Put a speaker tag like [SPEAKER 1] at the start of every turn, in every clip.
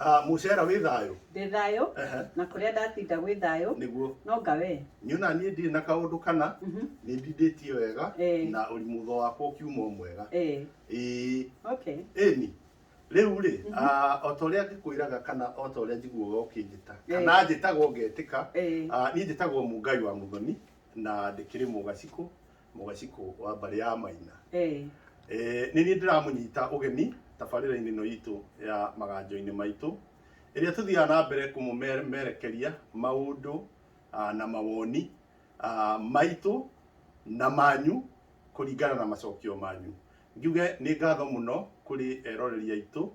[SPEAKER 1] Ah, mucera wĩ thayũ ndĩ thayũ Ehe. na kũrĩa ndatinda gwĩ thayũ nĩguo no nga wee niĩ ona niĩ ndirĩ na kaũndũ kana Mhm. nĩ ndindĩtie wega Eh. na ũri mutho wakwa ũkiuma o mwega Eh, ĩĩ okay ĩni rĩu rĩ ah, o ta ũrĩa ngĩkwĩraga kana o ta ũrĩa njiguaga ũkĩnjĩta Eh. kana njĩtagwo ngetĩka Eh, ah, niĩ njĩtagwo mungai wa mũthoni na ndĩkĩrĩ mũgacikũ mũgacikũ wa mbarĩ ya maina Eh, Eh, nĩ niĩ ndĩramũnyita ũgeni tabarĩra-inĩ ĩno itũ ya maganjo-inĩ maitũ ĩrĩa tũthiaga na mbere kũmũmerekeria maũndũ ah, na mawoni ah, maitũ na manyu kũringana na macokio manyu njuge nĩ ngatho mũno kũrĩ eroreri aitũ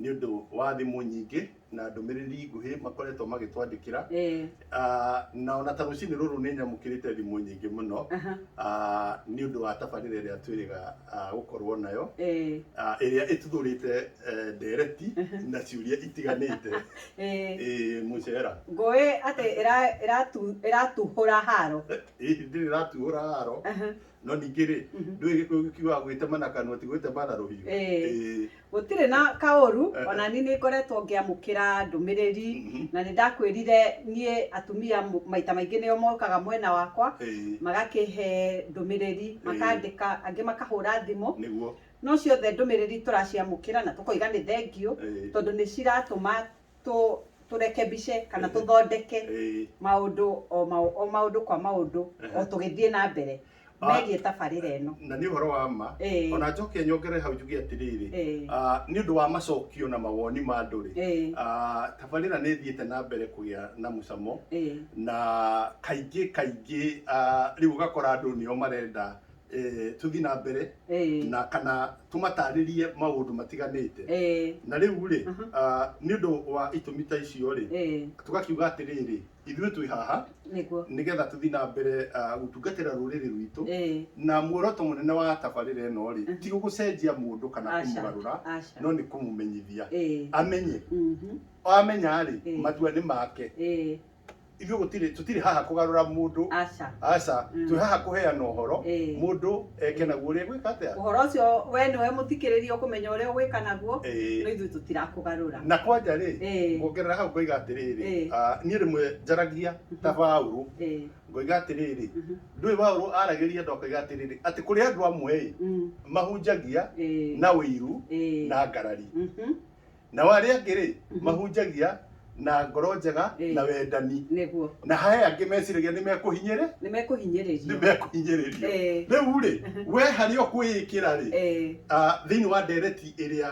[SPEAKER 1] nĩ ũndũ wa thimũ nyingĩ na ndũmĩrĩri nguhĩ makoretwo magĩtwandĩkĩra Eh, Ah, na ona ta rũcinĩ rũrũ nĩ nyamũkĩrĩte thimũ nyingĩ mũno aha, Ah, nĩ ũndũ wa tabarĩra ĩrĩa twĩrĩga ah, gũkorwo nayo eh, Ah, ĩrĩa ĩtuthũrĩte eh, ndereti na ciũria itiganĩte eh. Ĩĩ, mũcera ngũĩ atĩ ĩra- ĩratu- ĩratuhũra haro Ĩĩ, ndĩrĩ ratuhũra haro Aha. no ningĩ rĩ Mhm. ndũĩ gĩkũyũ gĩkiugaga gwĩtema na kanua ti gwĩtema na rũhiũ Ĩĩ. Ĩĩ. gũtirĩ na kaũru Eh. ona niĩ nĩ ngoretwo ngĩamũkĩra ndũmĩrĩri Mhm. na nĩ ndakwĩrire niĩ atumia m- maita maingĩ nĩo mokaga mwena wakwa Ĩĩ. magakĩhe ndũmĩrĩri Ĩĩ. makandĩka angĩ makahũra thimũ nĩguo no ciothe ndũmĩrĩri tũraciamũkĩra na tũkoiga nĩ thengiũ Ĩĩ. tondũ nĩ ciratũma tũ tũrekebishe kana tũthondeke Eh, maũndũ o mau- o maũndũ kwa maũndũ o tũgĩthiĩ na mbere Ah. megiĩ tabarĩra ĩno na nĩ ũhoro wa ma Eh. ona njoke nyongere hau njuge atĩrĩrĩ Eh. ah, nĩ ũndũ wa macokio na mawoni ma andũ rĩ Eh. ah, tabarĩra nĩ ĩthiĩte na mbere kũgĩa na mũcamo Eh. na kaingĩ kaingĩ ah, rĩu ũgakora andũ nĩo marenda eh, tũthiĩ na mbere Eh, na kana tũmatarĩrie maũndũ matiganĩte eh, na rĩu rĩ Mhm. ah, nĩ ũndũ wa itũmi ta icio rĩ eh, tũgakiuga atĩrĩrĩ ithuĩ twĩ haha nĩguo nĩgetha tũthiĩ na mbere ah, gũtungatĩra rũrĩrĩ rwitũ Eh, na muoroto mũnene wa tabarĩra ĩno rĩ Mhm. ti gũcenjia mũndũ kana Aca. kũmũgarũra aca no nĩ kũmũmenyithia Eh, amenye mhm, amenya rĩ Eh. matua nĩ make eh, ithuĩ gũtirĩ tũtirĩ haha kũgarũra mũndũ aca aca Mm. twĩ haha kũheana ũhoro Ĩĩ. mũndũ eke naguo ũrĩa gwĩka atĩa ũhoro ũcio we nĩwe mũthikĩrĩria ũkũmenya ũrĩa ũgwĩka naguo no Ĩĩ. ithuĩ tũtirakũgarũra na kwanja rĩ Ĩĩ. kuongerera hau ngoiga atĩrĩrĩ Ĩĩ. ah, niĩ rĩmwe njaragia ta baũrũ Ĩĩ. ngoiga atĩrĩrĩ Mhm. ndũĩ baũrũ aragĩria andũ akoiga atĩrĩrĩ atĩ kũrĩ andũ amwe ĩ Mm. mahunjagia Ĩĩ. na ũiru Ĩĩ. na ngarari Mhm. nao arĩa angĩ-rĩ Mhm. mahunjagia na ngoro njega Ĩĩ. na wendani nĩguo na haya angĩ meciragia nĩ mekũhinyĩrĩ nĩ mekũhinyĩrĩrio nĩ mekũhinyĩrĩrio Eh. rĩu-rĩ we harĩa ũkwĩĩkĩra-rĩ Eh, ah, thĩinĩ wa ndereti ĩrĩa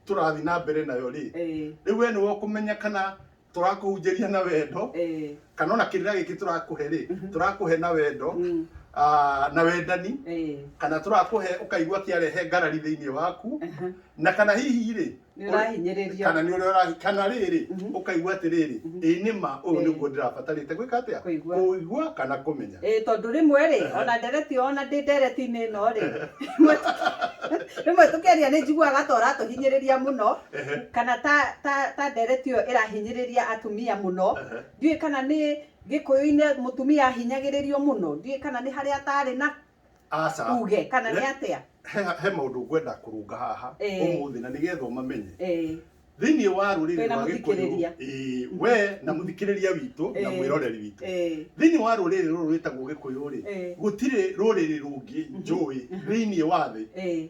[SPEAKER 1] tũrathiĩ na mbere nayo-rĩ eh, rĩu we nĩwe ũkũmenya kana tũrakũhunjĩria na wendo eh, kana ona kĩrĩra gĩkĩ tũrakũhe rĩ Mhm. tũrakũhe na wendo mm, ah, na wendani eh, kana tũrakũhe ũkaigua kĩarehe ngarari thĩinĩ waku aha. na kana hihi rĩ nĩ ũrahinyĩrĩrio kana nĩ ũrĩa ũra- kana rĩrĩ Mhm. ũkaigua atĩrĩrĩ Mhm. ĩĩ nĩ ma ũyũ Ĩĩ. nĩguo ndĩrabatarĩte gwĩka atĩa Kũigua. kũigua kana kũmenya Ĩĩ, tondũ rĩmwe rĩ ona ndereti ona ndĩ ndereti-inĩ ĩno rĩ rĩmwe- rĩmwe tũkĩaria nĩ njiguaga ta ũratũhinyĩrĩria mũno Ehe. kana ta ta ta ndereti ĩyo ĩrahinyĩrĩria atumia mũno Ehe. ndiũĩ kana nĩ gĩkũyũ-inĩ mũtumia ahinyagĩrĩrio mũno ndiũĩ kana nĩ harĩa atarĩ na aca uge kana nĩ Eh. atĩa he, he maũndũ ngwenda kũrũnga haha Eh. ũmũthĩ na nĩgetha ũmamenye Eh, thĩinĩ wa rũrĩrĩ Twĩna rwa gĩkũyũ mũthikĩrĩria. ĩĩ, we na mũthikĩrĩria witũ na Eh. mwĩroreri witũ eh, thĩinĩ wa rũrĩrĩ rũrũ rwĩtagwo gĩkũyũ rĩ Eh. gũtirĩ rũrĩrĩ rũngĩ njũĩ thĩinĩ wa thĩ eh.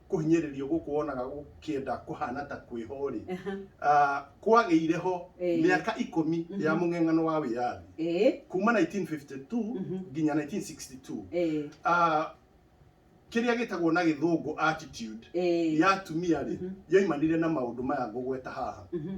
[SPEAKER 1] kũhinyĩrĩrio gũkũ wonaga gũkĩenda kũhana ta kwĩho rĩ Aha. ah, kwagĩire ho Eh. mĩaka ikũmi Mhm. ya mũng'eng'ano wa wĩyathi Eh. kuma 1952 Mhm. nginya 1962 Eh. Ah, kĩrĩa gĩtagwo na gĩthũngũ attitude Eh. ya atumia rĩ Mhm. yoimanire na maũndũ maya ngũgweta haha Mhm.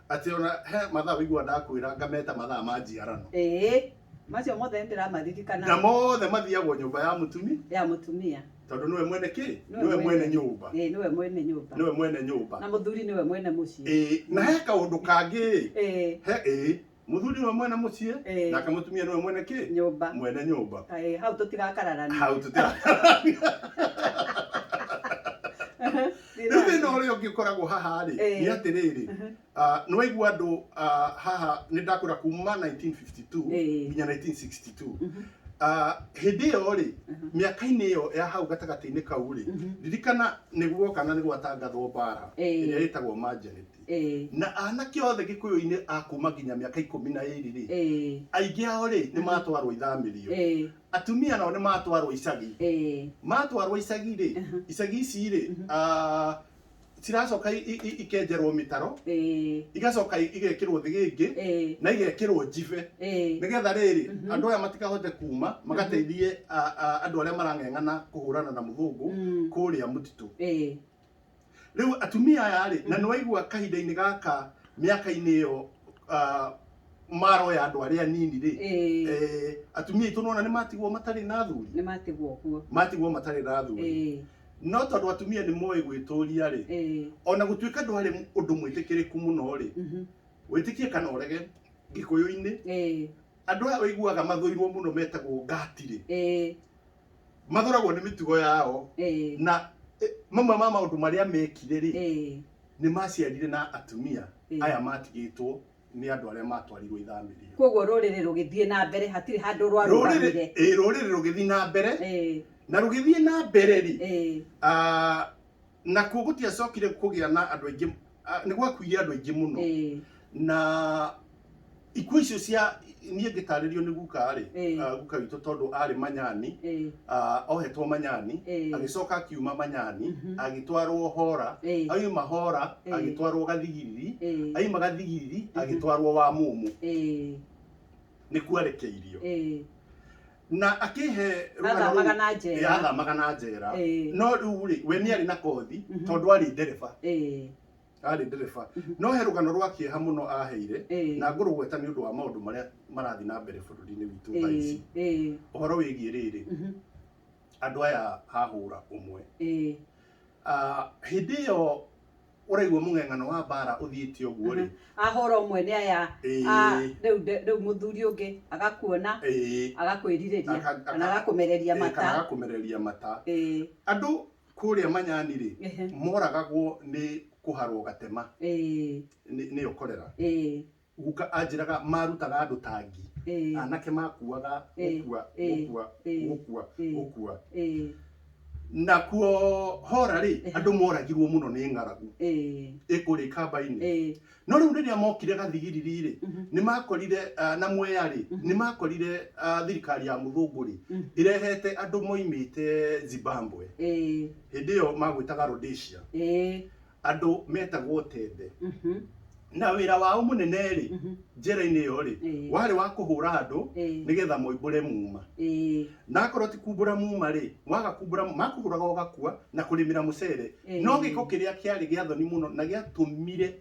[SPEAKER 1] Atĩ ona he mathaa ũiguaga ndakwĩra ngameta mathaa ma njiarano. Ĩĩ, macio mothe nĩndĩramaririkana. Na mothe mathiagwo nyũmba ya mũtumi. Ya mũtumia. Tondũ nĩwe mwene kĩ? Nĩwe mwene nyũmba. Ĩĩ, nĩwe mwene nyũmba. Nĩwe mwene nyũmba. Na mũthuri nĩwe mwene mũciĩ. Ĩĩ, na he kaũndũ kangĩ-ĩ. Ĩĩ. He, ĩĩ. Mũthuri nĩwe mwene mũciĩ. Ĩĩ. Nake mũtumia nĩwe mwene kĩ? Nyũmba. Mwene nyũmba. Ĩĩ, hau tũtigakararania. Hau tũtigakararania. Nĩ rĩu thĩna nani. ũrĩa ũngĩ ũkoragwo haha rĩ Eh. nĩ atĩrĩrĩ Mhm. ah, nĩ waigua andũ ah, haha nĩ ndakũra kuma 1952 Eh. nginya 1962 Mhm. Ah, hĩndĩ ĩyo rĩ Mhm. mĩaka-inĩ ĩyo ya hau gatagatĩ-inĩ kau rĩ Mhm. ririkana nĩ guoka na nĩ gwatangathwo mbara Eh. ĩrĩa ĩtagwo manjaneti Eh. na anake othe gĩkũyũ-inĩ a kuma nginya mĩaka ikũmi na ĩrĩ rĩ Eh. aingĩ ao rĩ nĩ matwarwo ithamĩrio Eh. atumia nao nĩ matwarwo icagi eh, matwarwo icagi rĩ Aha. icagi ici rĩ ah, ciracoka i- i- i- ikenjerwo mĩtaro eh, igacoka i- igekĩrwo thĩgĩngĩ eh, na igekĩrwo njibe eh, nĩgetha rĩrĩ Mhm. andũ aya matikahote kuma magateithie a- a- andũ arĩa marang'eng'ana kũhũrana na mũthũngũ mm, kũrĩa mũtitũ eh, Rĩu atumia aya rĩ, na nĩwaigua kahinda-inĩ gaka mĩaka-inĩ ĩyo ah, maroya andũ arĩa anini rĩ, Ĩĩ. eh, atumia aitũ nĩwona nĩmatigwo matarĩ na athuri, nĩ matigwo ũguo matigwo matarĩ na athuri. Ĩĩ, No tondũ atumia nĩmoĩ gwĩtũria rĩ, ĩĩ, ona gũtuĩka ndwarĩ ũndũ mwĩtĩkĩrĩku mũno rĩ, mhm, wĩtĩkie kana ũrege gĩkũyũ-inĩ ĩĩ, andũ aya ũiguaga mathũirwo mũno metagwo ngati rĩ, ĩĩ, mathoragwo nĩ mĩtugo yao eh, na eh, mamwe ma maũndũ marĩa mekire rĩ eh, nĩ maciarire na atumia Eh. aya matigĩtwo nĩ andũ arĩa matwarirwo ithamĩrio koguo rũrĩrĩ rũgĩthiĩ na mbere hatirĩ handũ rũrĩrĩ rwarũgamire eh, rũrĩrĩ rũgĩthiĩ na mbere Eh, na rũgĩthiĩ na mbere rĩ eh, ah, nakuo gũtiacokire kũgĩa na andũ aingĩ ah, nĩ gwakuire andũ aingĩ mũno Eh, na ikuũ icio cia niĩ ngĩtarĩrio nĩ guka rĩ Eh. ah, guka witũ tondũ arĩ manyani eh, ah, ohetwo manyani Eh. agĩcoka akiuma manyani Mhm. agĩtwarwo hora eh, aima hora Eh. agĩtwarwo gathigiriri eh, aima gathigiriri Mhm. agĩtwarwo wa mũmũ eh, nĩkuo arekeirio eh, na akĩhe rũgano Athamaga rũu- na njera. Eh, athamaga na njera Eh. no rĩu rĩ we nĩ arĩ na kothi Mhm. tondũ arĩ ndereba Eh, arĩ ndereba Mhm. no he rũgano rwa kĩeha mũno aheire eh, na ngũrũgweta nĩ ũndũ wa maũndũ marĩa marathiĩ na mbere bũrũri-inĩ witũ thaa eh, ici eh, ũhoro wĩgiĩ rĩrĩ mhm, andũ aya hahũra ũmwe eh, Ah, hĩndĩ ĩyo ũraigua mũng'eng'ano wa mbara ũthiĩte ũguo rĩ ahũra ũmwe nĩ aya Ĩĩ. ah, rĩu nde- rĩu mũthuri ũngĩ agakuona ĩĩ, agakwĩrirĩria Aka- aka- kana agakũmereria ĩĩ, kana mata agakũmereria mata Ĩĩ, andũ kũrĩa manyani rĩ ehe, moragagwo nĩ kũharwo gatema ĩĩ, nĩ- nĩyo korera ĩĩ. Guka anjĩraga marutaga andũ tangi. Ĩĩ. Anake makuaga Ĩĩ. gũkua, Ĩĩ. gũkua, Ĩĩ. gũkua, Ĩĩ. gũkua. Ĩĩ. Nakuo hora rĩ, Ehe. andũ moragirwo mũno nĩ ng'aragu Ĩĩ. ĩkũrĩ kamba-inĩ. Ĩĩ. No rĩu rĩrĩa mokire gathigiriri rĩ, Mhm. nĩ makorire ah, na mwea rĩ, nĩ makorire ah, thirikari ya mũthũngũ rĩ, Mhm. ĩrehete andũ moimĩte Zimbabwe. Ĩĩ. Hĩndĩ ĩyo magwĩtaga Rhodesia. Ĩĩ. andũ metagwo tembe Mhm. na wĩra wao mũnene rĩ Mhm. njĩra-inĩ ĩyo rĩ Ĩĩ. warĩ wa kũhũra andũ Ĩĩ. nĩgetha moimbũre muma Ĩĩ. na akorwo ti kumbũra muma rĩ waga kumbũra makũhũraga ũgakua na kũrĩmĩra mũcere Ĩĩ. no gĩko kĩrĩa kĩarĩ gĩa thoni mũno na gĩatũmire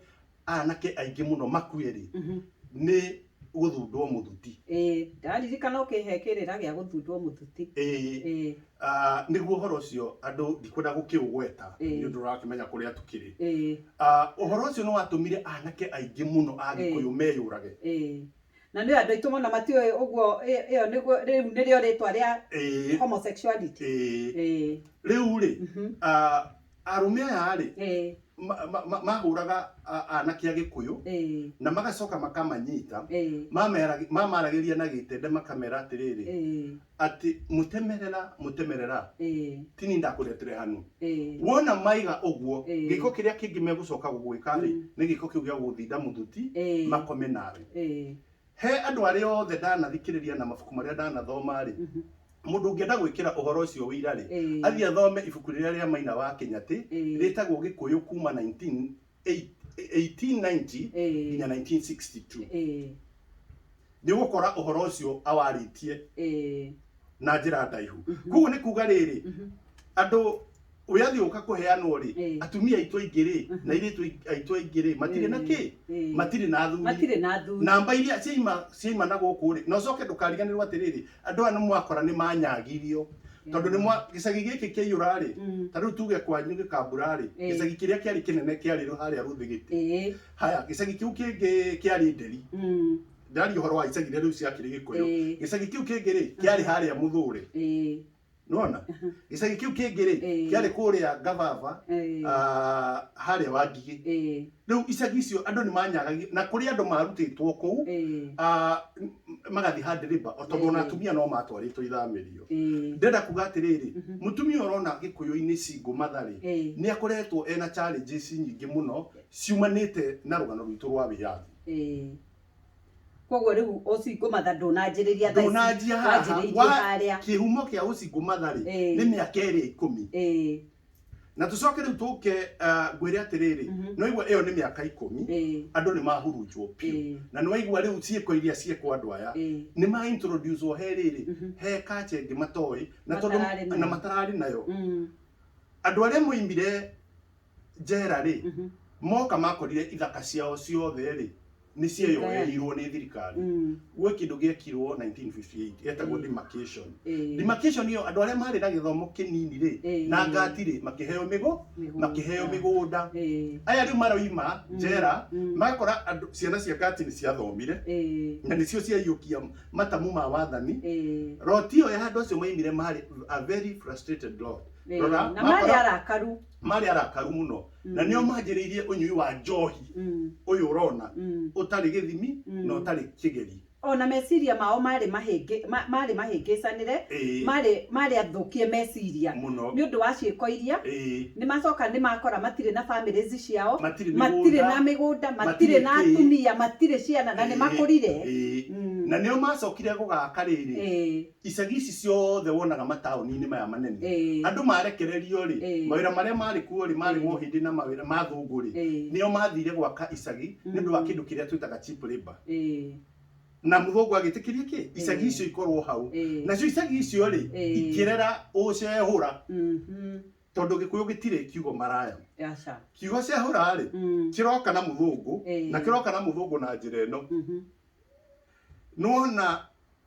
[SPEAKER 1] anake aingĩ mũno makue rĩ Mhm. nĩ gũthundwo mũthuti ĩĩ ndaririkana ũkĩhe kĩrĩra gĩa gũthundwo mũthuti ĩĩ ĩĩ Ah, nĩguo ũhoro ũcio andũ ndikwenda gũkĩũgweta Ĩĩ. nĩ ũndũ ũrakĩmenya kũrĩa tũkĩrĩ ĩĩ Ah, ũhoro ũcio nĩ watũmire anake aingĩ mũno a gĩkũyũ meyũrage ĩĩ na nĩ andũ aitũ mũno matiũĩ ũguo ĩ- ĩyo nĩguo rĩu nĩrĩo rĩtwa rĩa ĩĩ homosexuality ĩĩ ĩĩ rĩu rĩ mhm, ah, Arũme aya-rĩ, Ĩĩ. ma- ma- ma- mahũraga a- aanake a Gĩkũyũ, Ĩĩ. na magacoka makamanyita, Ĩĩ. mamerag- mamaragĩria na gĩtende makamera atĩrĩrĩ, Ĩĩ. atĩ mũtemerera, mũtemerera, Ĩĩ. ti niĩ ndakũretere hanu. Ĩĩ. Wona maiga ũguo, Ĩĩ. gĩĩko kĩrĩa kĩngĩ megũcoka gũgwĩka-rĩ, Mm. nĩ gĩĩko kĩu gĩa gũgũthinda mũthuti, Ĩĩ. makome nawe. Ĩĩ. He andũ arĩa othe ndanathikĩrĩria na mabuku marĩa ndanathoma-rĩ, mũndũ ũngĩenda gwĩkĩra ũhoro ũcio ũira-rĩ, Ĩĩ. athiĩ athome ibuku rĩrĩa rĩa Maina wa Kĩnyatĩ Ĩĩ. rĩtagwo Gĩkũyũ kuma 19 eight- 1890 Ĩĩ. nginya 1962. Ĩĩ. Nĩũgũkora ũhoro ũcio awarĩtie Ĩĩ. na njĩra ndaihu. Kuoguo nĩ kuga rĩrĩ, andũ ũrĩa athiĩ ũka kũheanwo rĩ Eh. atumia aitũ aingĩ rĩ Mhm. na irĩtu aitũ aingĩ rĩ matirĩ na kĩ Eh. matirĩ na athuri matirĩ na athuri namba iria ciaima ciaima na gũkũ rĩ na ũcoke ndũkariganĩrwo atĩrĩrĩ andũ aya nĩ mwakora nĩ manyagirio tondũ nĩ mwa gĩcagi gĩkĩ kĩaiyũra rĩ Mm. ta rĩu tuge kwanyu gĩkambura rĩ Eh. gĩcagi kĩrĩa kĩarĩ kĩnene kĩarĩ rũ- harĩa rũthigĩte Eh. haya gĩcagi kĩu kĩngĩ kĩarĩ nderi Mm. ndaria ũhoro wa icagi iria rĩu ciakĩrĩ gĩkũyũ Eh. gĩcagi kĩu kĩngĩ rĩ kĩarĩ harĩa mũthũre Eh. nona gĩcagi kĩu kĩngĩ rĩ Ĩĩ. kĩarĩ kũrĩa ngababa Ĩĩ. ah, harĩa wangigĩ Ĩĩ. rĩu icagi icio andũ nĩ manyagagio na kũrĩ andũ marutĩtwo kũu Ĩĩ. ah, m- magathiĩ handĩrĩmba o tondũ ona Ĩĩ. atumia no matwarĩtwo ithamĩrio Ĩĩ. ndĩrenda kuga atĩrĩrĩ mũtumia ũrona gĩkũyũ-inĩ cingũ matharĩ Ĩĩ. nĩ akoretwo ena challenges nyingĩ mũno ciumanĩte na rũgano rwitũ rwa wĩyathi Ĩĩ. koguo rĩu ũcingo matha ndũnanjĩrĩria thaa ici, ndũnanjia haha wanjĩrĩirie wa harĩa kĩhumo kĩa ũcingo matha rĩ Ĩĩ. nĩ mĩaka ĩrĩa ikũmi ĩĩ na tũcoke rĩu tũke ah, ngwĩre atĩrĩrĩ Mhm. nĩ waigua ĩyo nĩ mĩaka ikũmi ĩĩ andũ nĩ mahurunjwo Ĩĩ. biũ na nĩ waigua rĩu ciĩko iria ciekwo andũ aya ĩĩ nĩ ma introduce o he rĩrĩ Mhm. he kache ĩngĩ matoĩ na tondũ Matararĩ nayo. na matararĩ nayo Mm, andå arä a moimire njera rĩ Mhm. moka makorire ithaka ciao ciothe rĩ nĩ cieyoeirwo nĩ thirikari Mm. gwĩ kĩndũ gĩekirwo 1958 getagwo Mm. demarcation Eh, demarcation ĩyo andũ arĩa marĩ na gĩthomo kĩnini rĩ Eh. na ngati rĩ makĩheo mĩgũ mĩgũnda. makĩheo mĩgũnda Eh, aya rĩu maroima Mm. njera Mm. magakora andũ ciana cia ngati nĩ ciathomire eh, na nĩcio ciaiyũkia matamu ma wathani eh, roti ĩyo ya andũ acio maimire marĩ a very frustrated lot eh. Rora, na marĩ makora- arakaru marĩ arakaru mũno na nĩo manjĩrĩirie ũnyui wa njohi Mm. ũyũ ũrona Mm. ũtarĩ gĩthimi Mm. na ũtarĩ kĩgeri o na meciria mao maarĩ mahĩngĩ- ma- maarĩ mahĩngĩcanĩre Ĩĩ. maarĩ maarĩ athũkie meciria Mũno. nĩ ũndũ wa ciĩko iria Ĩĩ. nĩ macoka nĩ makora matirĩ na families ciao Matirĩ mĩgũnda. matirĩ na mĩgũnda matirĩ Matirĩ na kĩ. atumia matirĩ ciana na nĩ Ĩĩ. makũrire Ĩĩ. Mm. na nĩo macokire gũgaka rĩrĩ Ĩĩ. icagi ici ciothe wonaga mataũni-inĩ maya manene Eh. andũ marekererio rĩ Eh. mawĩra marĩa marĩ kuo rĩ marĩ Eh. mo hĩndĩ na mawĩra ma thũngũ rĩ Eh. nĩo mathire gwaka icagi nĩ ũndũ wa Mm. kĩndũ kĩrĩa twĩtaga cheap labor Eh. na mũthũngũ agĩtĩkĩria kĩ icagi Eh. icio ikorwo hau Eh. nacio icagi icio rĩ Eh. ikĩrera ũcehũra Mhm. tondũ gĩkũyũ gĩtirĩ kiugo maraya Aca. kiugo cehũra rĩ Mm. kĩroka na mũthũngũ Eh. na kĩroka na mũthũngũ na njĩra ĩno Mhm. nĩwona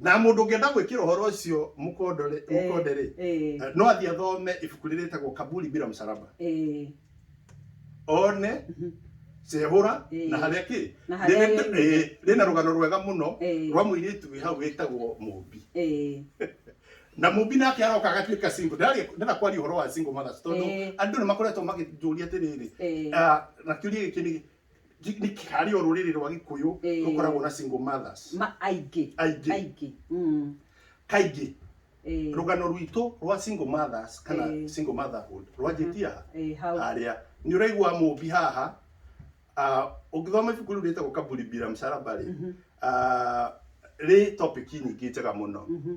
[SPEAKER 1] Na mũndũ ũngĩenda gwĩkĩra ũhoro ũcio mũkonde-rĩ, Eh, mũkonde-rĩ, eh, eh, no athiĩ athome ibuku rĩrĩa rĩtagwo Kaburi Bila Msalaba. eh, One mhm, cehũra Eh. na harĩa kĩ Na harĩa Rĩrĩ- yoimire. eh, rĩna rũgano rwega mũno Eh. rwa mũirĩtu wĩ hau wĩtagwo Mũmbi. eh, Na Mũmbi nake aroka agatuĩka single. Ndĩraria- Ndĩrenda kwaria ũhoro wa single mothers tondũ Eh. andũ nĩ makoretwo makĩnjũria atĩrĩrĩ, Eh. ah, na kĩũria gĩkĩ nĩ Gi- nĩ kĩ- harĩ o rũrĩrĩ rwa gĩkũyũ Ĩĩ. rũkoragwo na single mothers ma aingĩ Aingĩ. aingĩ Mm. kaingĩ Eh, rũgano rwitũ rwa single mothers kana Ĩĩ. single motherhood rwanjĩtie aha eh, hau harĩa nĩ ũraigua mũmbi haha ah, ũngĩthoma ibuku rĩu rĩtagwo kaburi bila msalaba rĩ ah, rĩ topic nyingĩ njega mũno Mhm.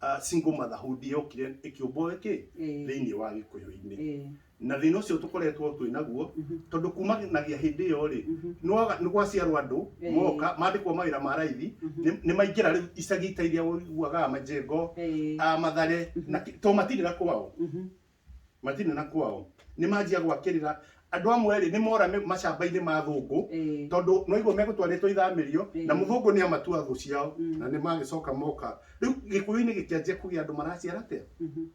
[SPEAKER 1] ah, single motherhood yokire ĩkĩũmbwo ĩkĩ Ĩĩ. thĩinĩ wa gĩkũyũ-inĩ Ĩĩ. na thĩna ũcio tũkoretwo twĩ naguo tondũ kumanagia hĩndĩ ĩyo rĩ nĩwaga- nĩ gwaciarwo andũ Ĩĩ. moka mandĩkwo mawĩra ma raithi nĩ- nĩ maingĩra rĩu icagi ta iria ũiguaga majengo Ĩĩ. ah, mathare na ki- to matindĩra kwao matirĩ na kwao nĩ manjia gwakĩrĩra andũ amwe rĩ nĩ mora mĩ- macamba-inĩ ma thũngũ Eh. tondũ noiguo megũtwarĩtwo ithamĩrio Eh. na mũthũngũ nĩ amatua thũ ciao Mm. na nĩ magĩcoka moka rĩu gĩkũyũ-inĩ gĩkĩanjia kũgĩa andũ maraciara atĩa Mhm,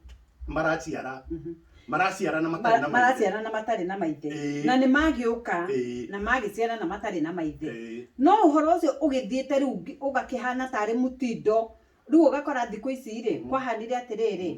[SPEAKER 1] maraciara mhm. maraciara na matarĩ na Ma- maithe. maraciara na matarĩ na maithe Ĩĩ. na nĩ magĩũka Ĩĩ. na magĩciara na matarĩ na maithe Ĩĩ. no ũhoro ũcio ũgĩthiĩte rĩu ngi- ũgakĩhana tarĩ mũtindo rĩu ũgakora thikũ ici rĩ kwahanire atĩrĩrĩ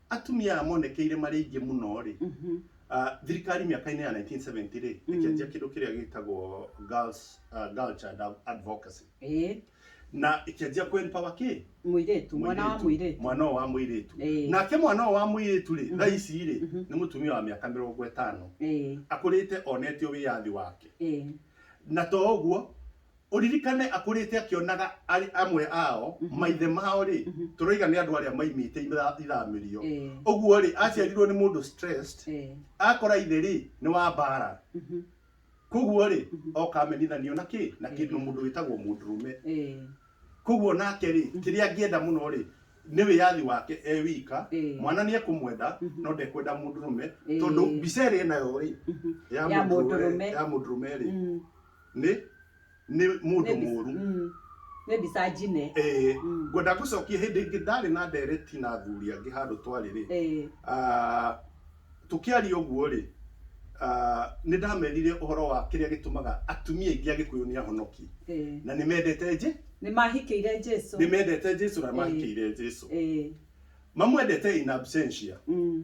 [SPEAKER 1] atumia aya monekeire marĩ aingĩ mũno-rĩ, Mhm. ah, thirikari mĩaka-inĩ ya 1970-rĩ, Mm. ĩkĩanjia kĩndũ kĩrĩa gĩtagwo girls, ah, girl child advocacy. Ĩĩ. Na ĩkĩanjia kũ empower kĩ? Mũirĩtu, mwana wa mũirĩtu. Mwana ũyũ wa mũirĩtu. Ĩĩ. Nake mwana ũyũ wa mũirĩtu-rĩ, Mhm. thaa ici-rĩ, Mhm. nĩ mũtumia wa mĩaka mĩrongo ĩtano. Ĩĩ. Akũrĩte onete o wĩyathi wake. Ĩĩ. Na to ũguo, ũririkane akũrĩte akĩonaga arĩ amwe ao Mhm. maithe mao rĩ Mhm. tũroiga nĩ andũ arĩa maimĩte ira- iramĩrio Eh, ũguo rĩ aciarirwo nĩ mũndũ stressed eh, akora ithe rĩ nĩ wa mbara mhm, koguo rĩ Mhm. okamenithanio na kĩ na kĩndũ Mhm. mũndũ wĩtagwo mũndũrũme eh, koguo nake rĩ Mhm. kĩrĩa angĩenda mũno rĩ nĩ wĩyathi wake e wika Eh. mwana nĩ ekũmwenda Mhm. no ndekwenda mũndũrũme Eh. tondũ mbica ĩrĩ nayo rĩ Mhm. ya Ya mũndũrũme mũndũrũme. ya mũndũrũme rĩ mm, nĩ nĩ mũndũ Nĩ mbi- mũru Mm. nĩ mbica njine Eh, Mm. ngwenda gũcokia hĩndĩ ĩngĩ ndarĩ na ndereti na athuri angĩ handũ twarĩ rĩ Eh, Ah, tũkĩaria ũguo rĩ ah, nĩ ndamerire ũhoro wa kĩrĩa gĩtũmaga atumia aingĩ agĩkũyũ nĩ ahonoki eh. na nĩ mendete nje nĩ mahikĩire jesu nĩ mendete jesu na mahikĩire jesu Eh, mamwendete in absentia mm.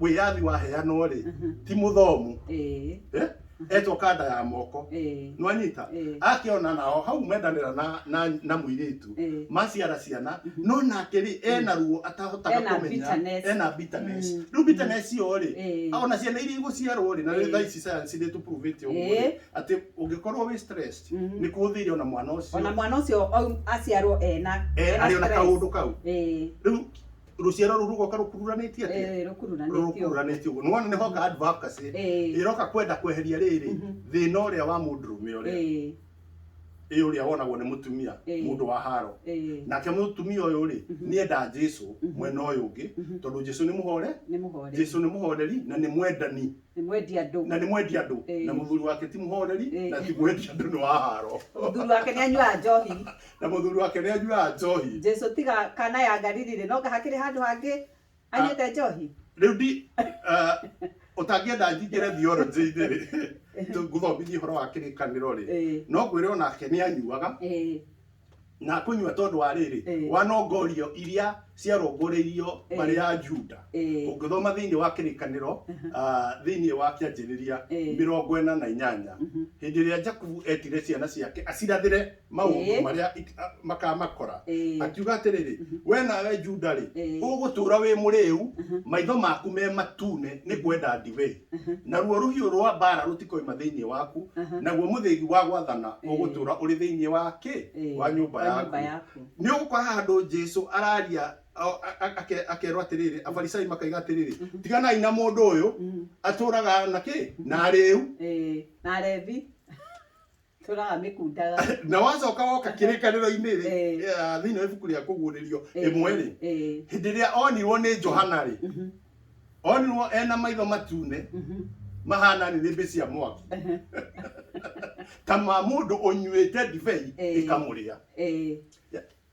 [SPEAKER 1] wĩyathi waheanwo-rĩ ti mũthomu ĩĩ Eh? etoka nda ya moko ĩĩ nwanyita ĩĩ akĩona nao hau mendanĩra na, na, na mũirĩtu ĩĩ maciara ciana no nake rĩ ena ruo atahotaga Ena kũmenya bitterness. ena bitterness Mm. rĩu bitterness iyo rĩ ĩĩ ona ciana iria igũciarwo rĩ na rĩu Eh. thaa ici sayansi nĩ tũpuruvĩte ũguo rĩ Eh. atĩ ũngĩkorwo wĩ stressed Mhm. nĩ kũhũthĩire ona mwana ũcio ona mwana ũcio au- aciarwo ena eh, ena arĩ ona stress. kaũndũ kau ĩĩ rĩu ruciaro ruru rugoka rukururanĩtie atĩa Eh, rukururanĩtio. rukururanĩtie ũguo nĩwona nĩ honga advocacy Eh. ĩroka kwenda kweheria rĩrĩ Mhm. thĩna ũrĩa wa mũndũrũme ũrĩa Eh, ĩ ũrĩa wonagwo nĩ mũtumia Eh. mũndũ wa haro eh, nake mũtumia ũyũ rĩ Mhm. nĩ enda jesu Mhm. mwena ũyũ ũngĩ Mhm. tondũ jesu nĩ mũhore nĩ mũhoreri. jesu nĩ mũhoreri na nĩ mwendani nĩ mwendi andũ na nĩ mwendi andũ na mũthuri wake ti mũhoreri na ti mwendi andũ nĩ waharo mũthuri wake nĩ anyuaga njohi na mũthuri wake nĩ anyuaga njohi Jesu tiga kana ya Galili rĩ no hakĩrĩ handũ hangĩ anyuĩte ah, njohi rĩu ndi ah, ũtangĩenda njingĩre theology-inĩ rĩ ngũthomithia ũhoro wa kĩrĩkanĩro rĩ no ngwĩre onake nĩ anyuaga na kũnyua tondũ wa rĩrĩ Eh. wanongorio iria ciarongorĩirio Eh. marĩ ya juda Eh. ũngĩthoma thĩinĩ wa kĩrĩkanĩro ah, thĩinĩ wa kĩanjĩrĩria Eh. mĩrongo ĩna na inyanya Mhm. hĩndĩ ĩrĩa jakubu etire ciana ciake acirathĩre maũndũ Eh. marĩa ik- a- makamakora Eh. akiuga atĩrĩrĩ we nawe juda-rĩ Eh. ũgũtũra wĩ mũrĩu maitho maku me matune nĩ kwenda ndibei Aha. naruo rũhiũ rwa mbaara rũtikoima thĩinĩ waku Aha. naguo mũthĩgi wa gwathana Eh. ũgũtũũra ũrĩ thĩinĩ wa kĩ Eh, wa nyũmba wa nyũmba yaku yaku. nĩ ũgũkora handũ jesu araria o- a- a- ake- akerwo atĩrĩrĩ afarisai makaiga atĩrĩrĩ Mhm. tiganai na mũndũ ũyũ Mm. atũraga na kĩ na arĩu Eh, na Levi tũraga mĩkundaga na wacoka woka kĩrĩkanĩro-inĩ rĩ Eh. eh, thĩinĩ wa ibuku rĩa kũguũrĩrio Eh, ĩmwe rĩ eh, hĩndĩ ĩrĩa onirwo nĩ johana rĩ mhm, onirwo ena maitho matune mhm, mahana nĩnĩmbĩ cia mwaki mhm, ta ma mũndũ ũnyuĩte ndibei Eh. ĩkamũrĩa eh.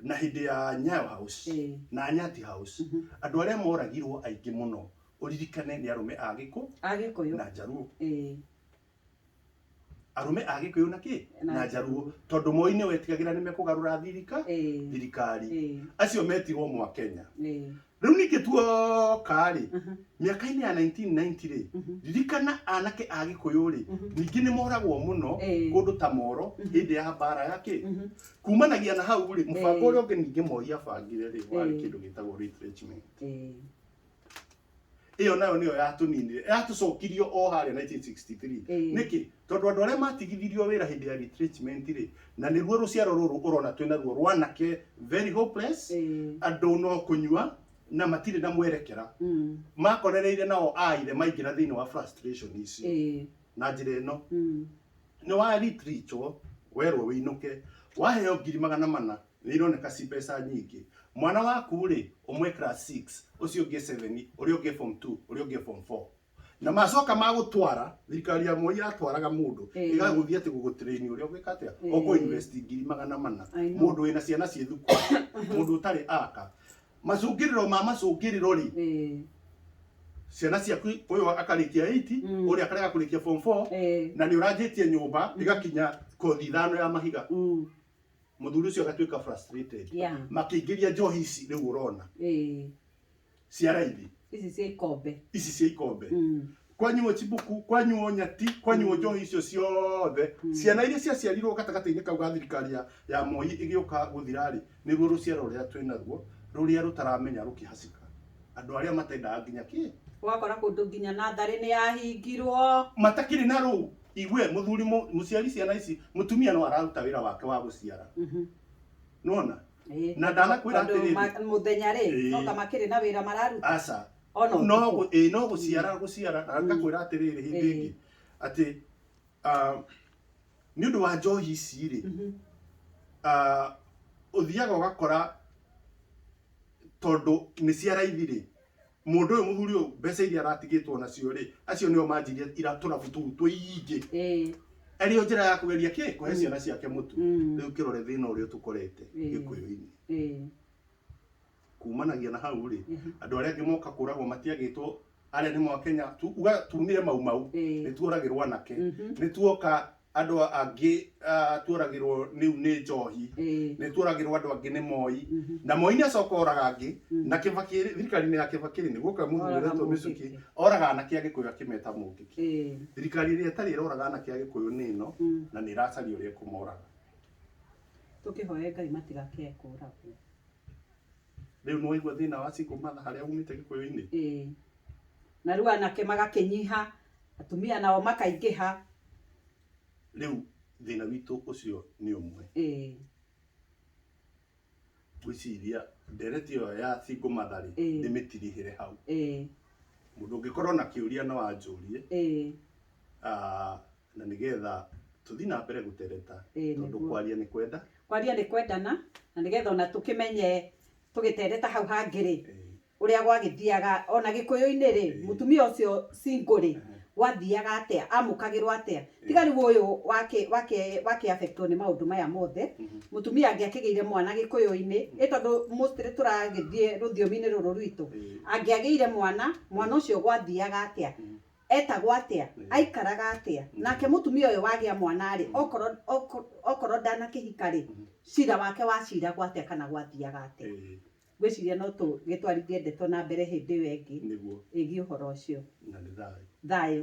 [SPEAKER 1] na hĩndĩ ya nyayo house Eh. na nyati house Mhm. andũ arĩa moragirwo aingĩ mũno ũririkane nĩ arũme a gĩkũ a gĩkũyũ na njaruo Eh, arũme a gĩkũyũ na kĩ Na na njaruo tondũ moi nĩ wetigagĩra nĩ mekũgarũra thirika eh, thirikari eh, acio metirwo mwa kenya eh, Rĩu ningĩ tuoka-rĩ, mĩaka-inĩ ya 1990-rĩ, ririkana anake a Gĩkũyũ-rĩ, ningĩ nĩ moragwo mũno Eh. kũndũ ta Moro hĩndĩ ya mbara ya kĩ? Kumanagia na hau-rĩ, mũbango Eh. ũrĩa ũngĩ ningĩ Moi abangire-rĩ, warĩ Eh. kĩndũ gĩtagwo retrenchment. Eh. ĩyo nayo nĩyo yatũninire yatũcokirio o harĩa 1963 Ĩĩ. nĩkĩ tondũ andũ arĩa matigithirio wĩra hĩndĩ ya retrenchment rĩ na nĩruo rũciaro rũrũ ũrona twĩna ruo rwanake very hopeless Ĩĩ. andũ no kũnyua na matirĩ na mwerekera Mm. makorereire nao aire maingĩra thĩinĩ wa frustration icio Ĩĩ. na njĩra ĩno Mm. nĩ wa retreatwo werwo wĩinũke waheo ngiri magana mana nĩ ironeka ci mbeca nyingĩ. Mwana waku rĩ, ũmwe class six, ũcio ũngĩ seven, ũrĩa ũngĩ form two, ũrĩa ũngĩ form four. Na macoka magũtwara, thirikari ya Moi yatwaraga mũndũ, Ĩĩ. ĩgagũthiĩ atĩ gũgũtrain ũrĩa ũgwĩka atĩa, Ĩĩ. ũkũ invest ngiri magana mana. I know. Mũndũ wĩna ciana ciĩ thukuru, mũndũ ũtarĩ aka. Macũngĩrĩro ma macũngĩrĩro rĩ, Eh, ciana ciaku ũyũ akarĩkia 8 Mm. ũrĩa akarega kũrĩkia form 4 eh, na nĩ ũranjĩtie nyũmba ĩgakinya kothi ithano ya mahiga mm, muthuri ucio agatuika frustrated Yeah. makiingiria njohi ici riu urona Eh, cia raithi ici cia ikombe ici cia ikombe Mm. kwanyuo chibuku kwanyuo nyati kwanyuo njohi icio ciothe ciana iria ciaciarirwo gatagatĩ-inĩ kau ga thirikari ya- ya moi ĩgĩũka gũthirarĩ nĩruo rũciaro rũrĩa twĩ naruo rũrĩa rũtaramenya rũkĩhacika andũ arĩa matendaga nginya kĩ ũgakora kũndũ nginya natharĩ nĩ yahingirwo matakĩrĩ na rũu igwe muthuri mu- muciari ciana ici mutumia no araruta wira wake wa guciara Mhm. nona Ĩĩ. Na ndanakwĩra Tondũ atĩrĩrĩ. ma- mũthenya rĩ Ĩĩ. no ta makĩrĩ na wĩra mararuta aca ona no ũtukũ. gu- ĩĩ, no guciara guciara na ngakwira atiriri hindi Ĩĩ. ingi ati ah, ni undu wa njohi ici ri Mhm. ah, uthiaga ugakora tondu ni cia raithi ri Mũndũ ũyũ mũthuri ũyũ mbeca iria aratigĩtwo nacio rĩ, acio nĩo manjirie ira tũrabu tũu tũingĩ. Ĩĩ. Arĩ o njĩra ya kũgeria kĩ? Kũhe ciana ciake mũtu. Mm. Rĩu kĩrore thĩna ũrĩa tũkorete Ĩĩ. gĩkũyũ-inĩ. Ĩĩ. Kumanagia na hau rĩ, Mhm. andũ arĩa angĩ moka kũragwo matiagĩtwo arĩa nĩ Mwakenya tu, uga tumire mau mau. Ĩĩ. Nĩ tuoragĩrwo anake. Mhm. Nĩ tuoka Andũ angĩ tuoragĩrwo nĩu nĩ njohi, nĩ tuoragĩrwo andũ angĩ nĩ Moi, na Moi nĩ acoka oraga angĩ, na Kĩbakĩ rĩ, thirikari-inĩ ya Kĩbakĩ rĩ, nĩguo Kaĩ mũndũ wĩretwo mĩcukĩ, oraga anake a Gĩkũyũ akĩmeta mũngĩki. Thirikari ĩrĩa ĩtarĩ ĩroraga anake a Gĩkũyũ nĩ ĩno, na nĩ ĩracaria ũrĩa ĩkũmoraga. Tũkĩhoe Ngai matigakĩae kũragwo. Rĩu nĩ waigua thĩna wa single mother harĩa umĩte Gĩkũyũ-inĩ? Na rĩu anake magakĩnyiha, Atumia nao makaingĩha. Rĩu thĩna witũ ũcio nĩ ũmwe. Ĩĩ. Ngwĩciria ndereti ĩyo ya single mother rĩ, ndĩmĩtirihĩre hau. Ĩĩ. Mũndũ ũngĩkorwo na kĩũria no anjũrie. Ĩĩ. Na nĩgetha tũthiĩ na mbere gũtereta. Ĩĩ nĩguo. Tondũ kwaria nĩ kwenda. Kwaria nĩ kwendana, na nĩgetha ona tũkĩmenye tũgĩtereta hau hangĩ rĩ, Ũrĩa gwagĩthiaga, o na Gĩkũyũ-inĩ rĩ, mũtumia ũcio single rĩ, gwathiaga atĩa, amũkagĩrwo atĩa? Tiga rĩu ũyũ wakĩ, wakĩ, wakĩ affect wo nĩ maũndũ maya mothe, mũtumia angĩakĩgĩire mwana Gĩkũyũ-inĩ, ĩ tondũ mostly tũragĩthiĩ rũthiomi-inĩ rũrũ rwitũ, angĩagĩire mwana, mwana ũcio gwathiaga atĩa, etagwo atĩa, aikaraga atĩa? Nake mũtumia ũyũ wagĩa mwana rĩ, okorwo, okorwo ndanakĩhika rĩ, cira wake waciragwo atĩa kana gwathiaga atĩa? Ngwĩciria no tũgĩtwarithie ndeto na mbere hĩndĩ ĩyo ĩngĩ ĩgiĩ ũhoro ũcio. Thayũ.